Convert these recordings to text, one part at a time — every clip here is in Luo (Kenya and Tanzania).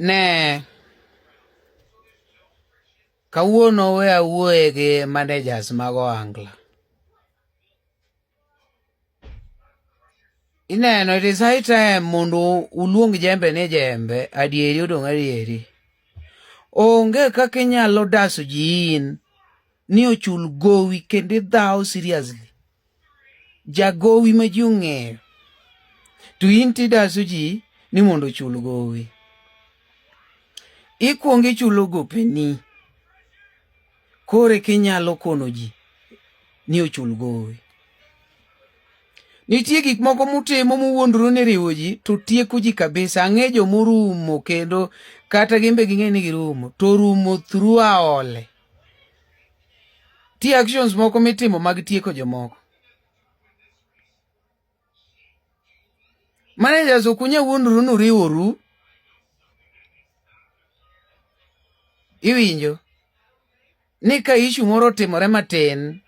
Ne kawuono we awuoye gi managers mag ohangla ineno it is high time mondo uluong jembe ni jembe adieri odong' adieri onge kaka inyalo daso ji in ni ochul gowi kendo idhawo seriously jagowi ma ji ong'eyo to in tidaso ji ni mondo ochul gowi ikwongo ichulo gopeni kore kinyalo kono ji ni ochul gowi nitie gik moko mutimo muwuondru ni riwo ji to tieko ji kabisa ang'e jomorumo kendo kata gimbe ging'e ni girumo to rumo through aole Ti actions moko mitimo mag tieko jomoko. Managers ok unyal wuondru ni uriworu. Iwinjo ni ka ishu moro otimore matin,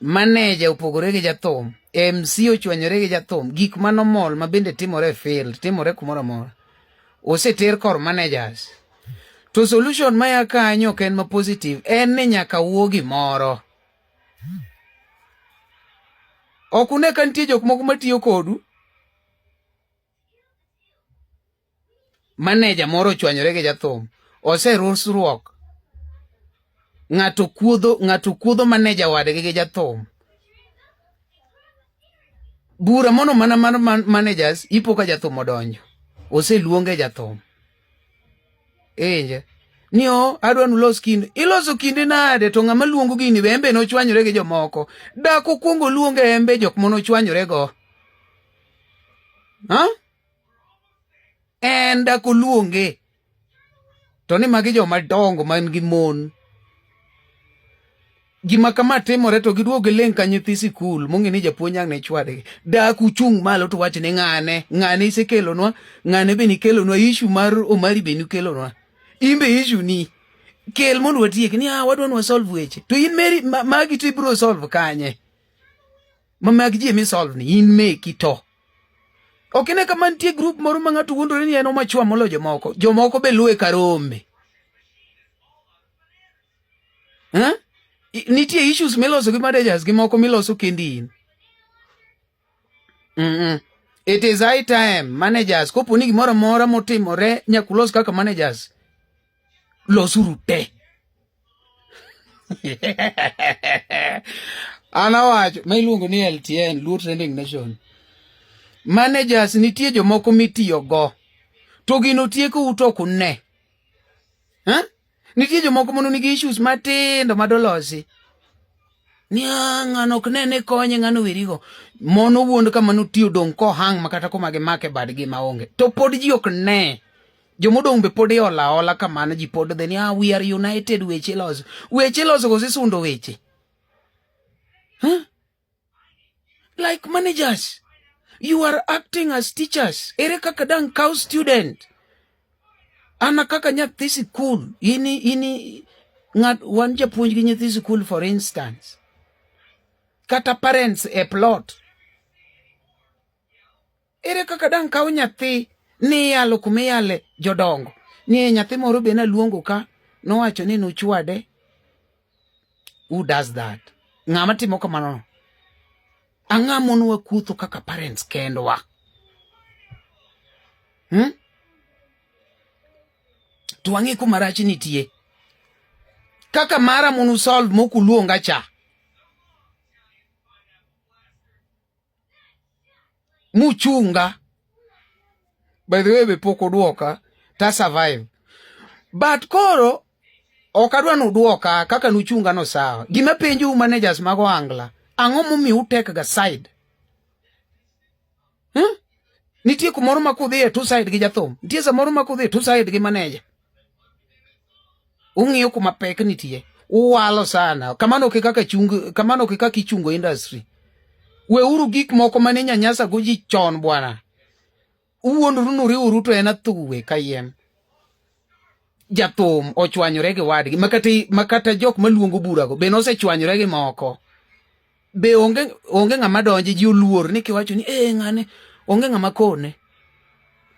maneja opogore gi jathum, MC ochwanyore gi jathum, gik manomol ma bende timore e field, timore kumoro amora. Oseter kor managers. To solution ma ya kanyo ok en ma positive, en ni nyaka wuo gimoro. Ok une ka nitie jok moko matiyo kodu? Maneja moro ochwanyore gi jathum, oserusruok. Ng'ato kuodho, ng'ato kuodho maneja wadgi gi jathum. Bura mono mana mar managers ipo ka jathum odonjo. Oseluonge jathum. Iwinje? Ni o, oh, adwa nulos kinde. Iloso kinde nade to ng'ama luongo gini be embe nochwanyore gi jomoko. Dak okwongo luonge embe jok mono chwanyore go. Ha? En dak oluonge. To ni magi joma dongo man gi mon. gima kama timore to giduogo giling ka nyithi sikul mong'e ni japuonj ang' ne chwadgi dak uchung' malo to wach ni ng'ane ng'ane isekelonwa ng'ane be nikelonwa ishu mar omari be nikelonwa in be ishu ni kel mondo watiek ni ah wadwa ni wasolve weche to in meri magi to ibiro solve kanye ma mag ji emi solve ni in meki to ok ine kama nitie grup moro ma ng'ato wuondore ni en omachwa molo jomoko jomoko be luwe karombe Eh? Nitie issues miloso gi managers gi moko miloso kendi in. Mm -mm. It is high time managers kopo ni gimoro amora motimore nyakulos kaka managers losuru te. An awacho ma iluongo ni LTN, Luo Trending Nation. Managers nitie jomoko mitiyogo to gino tiekou to ok une. Eh? Nitie jomoko mondo nigi issues matindo madolosi. Ni ng'ano ok ne ni konye ng'ano werigo. Mono wuond kama notiyo dong' kohang' makata koma gi make badgi maonge. To pod ji ok ne. Jomodong' be pod iola ola kamano ji pod dhe ni ah, we are united weche loso. Weche loso kose sundo weche. Huh? like managers you are acting as teachers ere kaka dang cow student ana kaka nyathi sikul ini ini ng'at wan japuonj gi nyathi sikul for instance kata parents e plot Ere kaka dang' kaw nyathi ni iyalo kuma iyale jodongo? Ni nyathi moro be naluongo ka nowacho ni nuchwade. Who does that? Ng'ama timo kamano no? Ang'a monwa kuotho kaka parents kendwa. Hmm? To ang'e kuma rach nitie. Kaka mara munu solve mokuluonga cha. muchunga by the way be pok udwoka ta survive but koro ok adwa ni udwoka kaka nuchunga no sawa gima penjou managers mag ohangla ang'o momiyo utekga side hmm? nitie kumoro ma kudhiye tu side gi jathum nitie samoro ma kudhiye tu side gi maneja ung'iyo kuma pek nitie uwalo sana kamano ke kaka chung kamano ke kaka ichungo industry weuru gik moko mane nyanyasa go ji chon bwana uwuondoru nuriuru to en athuwe kayiem jathum ochwanyore gi wadgi makata makata jok maluongo burago bende osechwanyore gi moko be onge onge ng'ama donje ji oluor ni kiwacho ni ee ng'ane onge ng'ama kone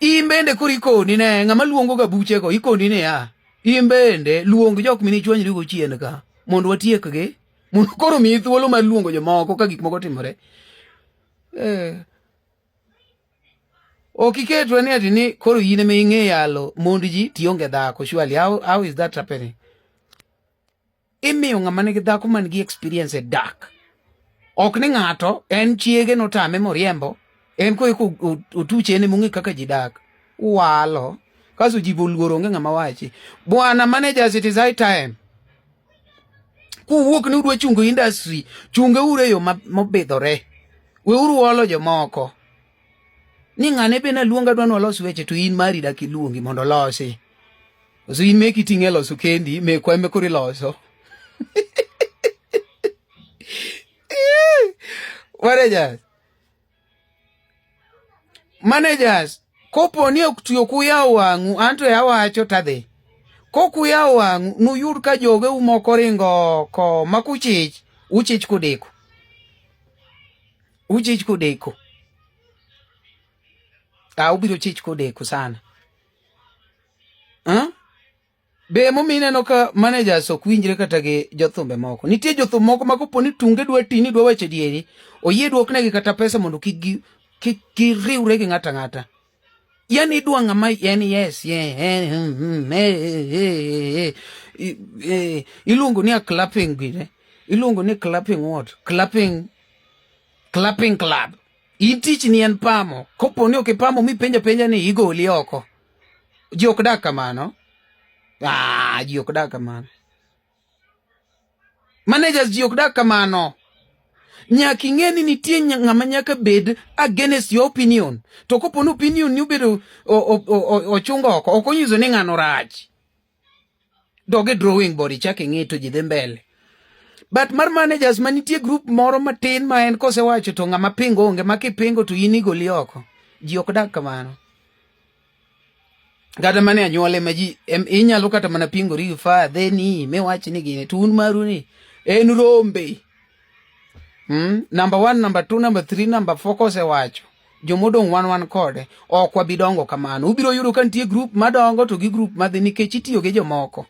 in bende koro ikoni ne ng'ama luongo ga buchego ikoni ne ya in bende luong jok mini chwanyri go chien ka mondo watiekgi mondo koro miyi thuolo mar luongo jomoko ka gik moko timore eh. ok iketwa ni ati ni koro in ema ing'e yalo mond ji tionge dhako surely how, how is that happening imiyo ng'ama nigi dhako man gi experience e dak ok ni ng'ato en chiege notame moriembo en ko eko otuche ne mong'e kaka ji dak walo kaso ji boluoro onge ng'ama wachi bwana manager it is high time kuwuok ni udwa chungo industry chunge ure yo mobidhore we uru olo jomoko ni ng'ane be naluonga dwa nwalos weche to in mari dak iluongi mondo olosi So in meki ting'e loso kendi, mekwa eme kori loso. Managers. Managers, kopo ni ok tiyo kuya wang'u, anto ya wacho tadhi. Kokuya wang'u, nuyud ka joge umoko ringo ko makuchich, uchich kudeko. Uchich kudeko. Ah, ubiro chich kudeko sana. Huh? Be momi ineno ka managers ok winjre kata gi jothumbe moko. Nitie jothum moko ma kopo ni tunge dwa ti ni dwa weche dieri, oyie duoknegi kata pesa mondo kik gi kik giriwre gi ng'ata ng'ata. Yani idwa ng'ama en yes iluongo ni a clapping gine iluongo ni clapping what clapping clapping club In tich ni en pamo. Kopo ni ok ipamo mi penja penja ni igoli oko. Ji ok dak kamano. Ah, ji ok dak kamano. Managers ji ok dak kamano. Nyaka ing'e ni nitie ng'ama nyaka bed against your opinion. To kopo ni opinion ni obedo ochungo oko, ok onyiso ni ng'ano rach. dog e drawing board ichak ing'i to ji dhi mbele but mar managers ma nitie group moro matin ma en kosewacho to ng'ama pingo onge ma kipingo to in igoli oko ji ok dak kamano kata mane anyuole ma ji inyalo kata mana pingori gi fa dheni miwach ni gini to un maru ni en rombe Mm, number one, number two, number three, number four kosewacho jomodong' wan wan kode ok wabi dongo kamano. Ubiro yudo ka nitie grup madongo to gi grup madhi nikech itiyo gi jomoko.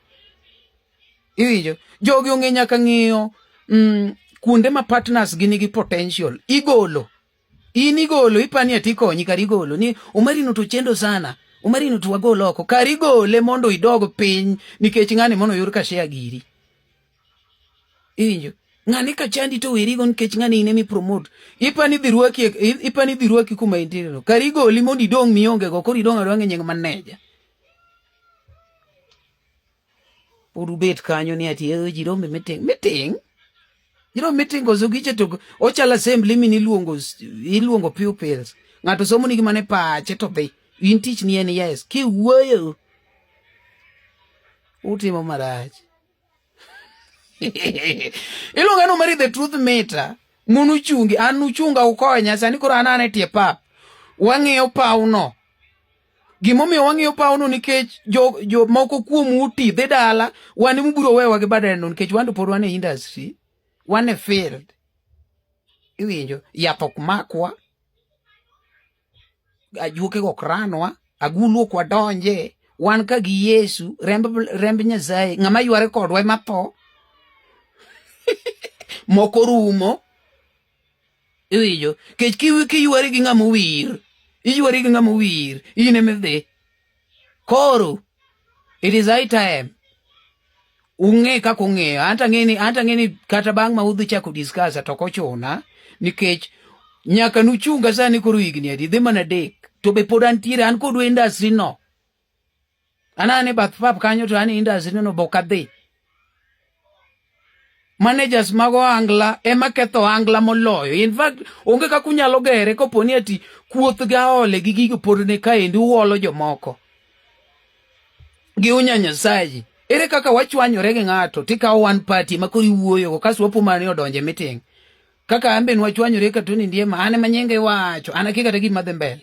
Iwinjo? Jogi ong'e nyaka ng'iyo mm, kuonde ma partners gi nigi potential igolo in igolo ipani ati konyi kar igolo ni umarino to chendo sana umarino to wagol oko kar igole mondo idog piny nikech ng'ani mondo oyud ka share giri Injo. Ng'ani ka chandi to weri gon kech ng'ani ine mi promote. Ipa ni dhiruaki ipa ni dhiruaki kuma intiere no. Kari goli mondo idong mionge go kori dong adong nyeng maneja. Podu bet kanyo ni ati eh jiro me meeting meeting. Jiro meeting ozo giche to ochala assembly mini luongo iluongo pupils. Ng'ato somo ni gimane pache to be in tich ni en yes. Ki wuoyo. Utimo marach. iluonga ni omari the truth meter mon uchungi an uchunga ukonya sani koro an ane tie pap wang'iyo pawno gimomiyo wang'iyo pawno nikech jo, jo moko kuom uti dhi dala wan mubiro wewa gi badeno nikech wando pod wan e industry wan e field iwinjo yath ok makwa ajuokego ok ranwa agulu ok wadonje wan ka gi yesu remb, remb nyasaye ng'ama yware kodwa ema tho moko rumo iwinjo kech kiywari gi ng'ama owir iywari gi ng'ama owir in emidhi Koro it is high time ung'e kaka ung'eyo anta ng'eni anta ng'eni kata bang' ma udhi chako discuss to ok ochuna nikech nyaka nuchunga sani koro higni adi dhi mana adek to be pod antiere an kodwa industry no anane bath pap kanyo to an industry no bok adhi managers mag ohangla ema ketho ohangla moloyo in fact onge kaka unyalo gere kopo ni ati kuoth ga ole gi gigo pod ne kaendi uolo jomoko gi unya nyasaye ere kaka wachwanyore gi ng'ato tikawo one party ma koro iwuoyogo kasto wapo mane odonje miting kaka an be nwachwanyore ka toni ndiema an ema nyinge wacho an akia kata gima dhi mbele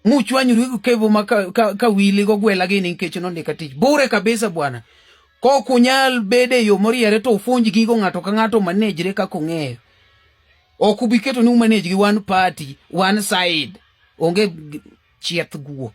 muchwanyuru gi kevo ma ka, ka, ka wili go gwela gini nikech nondika tich bure kabisa bwana kok unyal bede yo moriere to ufunj gigo ng'ato ka ng'ato manejre kaka ung'eyo ok ubi keto ni umanej gi one party one side onge chieth guok